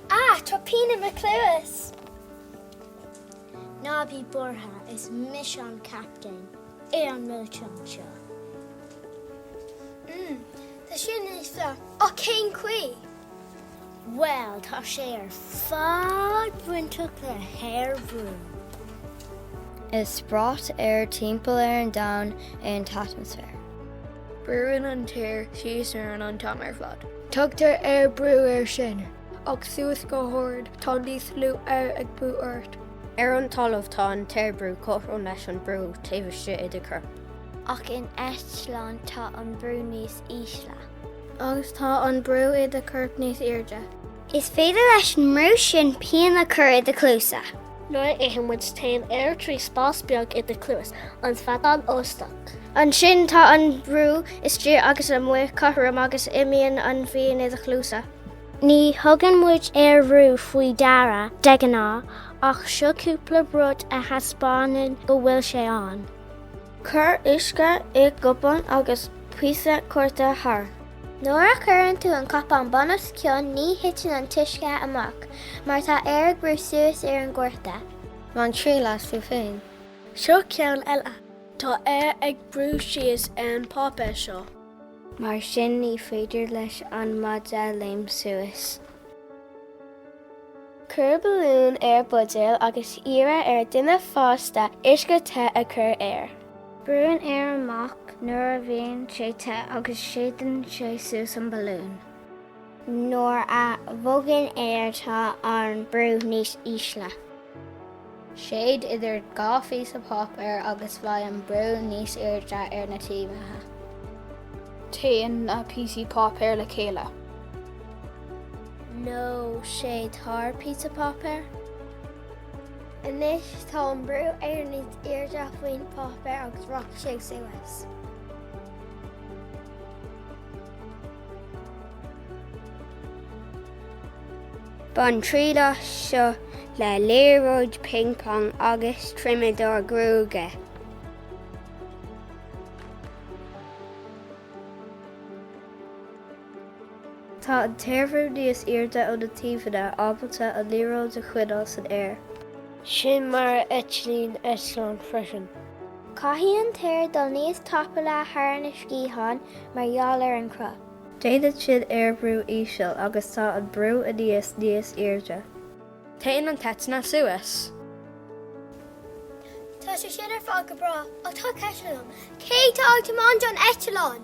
A! Tá pian i mo chluasa! Ná bí buartha, is mise an captaen ar an milseán seo. Tá sé sin níos fearr. Ach cén chaoi? Bhuel, tá sé ar fad bainteach le haerbhrú. Is brat aeir timpeall ar an domhan é an t-atmaisféar. Brúann an t-aer síos orainn an t-am ar fad. Tugtar aerbhrú air sin, ach suas go hard tá níos lú aeir ag brú ort. Ar an talamh tá an t-aerbhrú cothrom leis an brú taobh istigh i do chorp. Ach in eitleán tá an brú níos ísle. Agus tá an brú i do chorp níos airde. Is féidir leis an mbrú sin pian a chur i do chluasa. Nuair a itheann muid téann aer trí spás beag i do chluas, an feadán Eostach. Ansin tá an brú istigh agus amuigh cothrom agus imíonn an phian i do chluasa. Ní thugann muid aerbhrú faoi deara de ghnáth ach seo cúpla rud a thaispeánann go bhfuil sé ann. Cuir uisce i gcupán agus píosa cárta thar. Nuair a chuireann tú an cupán bunoscionn ní thiteann an t-uisce amach mar tá aer ag brú suas ar an gcárta. Bain triail as tú féin. Seo ceann eile. Tá aer ag brú síos ar an bpáipéar seo. mar sin ní féidir leis an maide léim suas. Cuir balún ar buidéal agus iarr ar dhuine fásta uisce te a chur air. Brúnn an aer amach nuair a bhíonn sé te agus séideann sé suas an balún. Nuair a bhogann aer tá an brú níos ísle. Séid idir dhá phíosa páipéir agus beidh an brú níos airde ar na taobhanna. Téann na píosaí páipéir le chéile. Nó séid thar píosa páipéir. Anois tá an brú aeir níos airde faoin páipéar agus rachaidh sé suas. Bain triail as seo le liathróid ping pong agus triomadóir gruaige. Tá an t-aerbhrú níos airde ó na taobhanna ábalta an liathróid a choinneáil san aer. Sin mar a eitlíonn eitleán freisin. Caithfidh an t-aer dul níos tapúla thar na sciatháin mar gheall ar an cruth. Déanann sin aerbhrú íseal agus tá an brú aníos níos airde. Téann an t-eitleán suas. Tá sé sin ar fad go breá, ach tá ceist agam, cé atá ag tiomáint an eitleáin?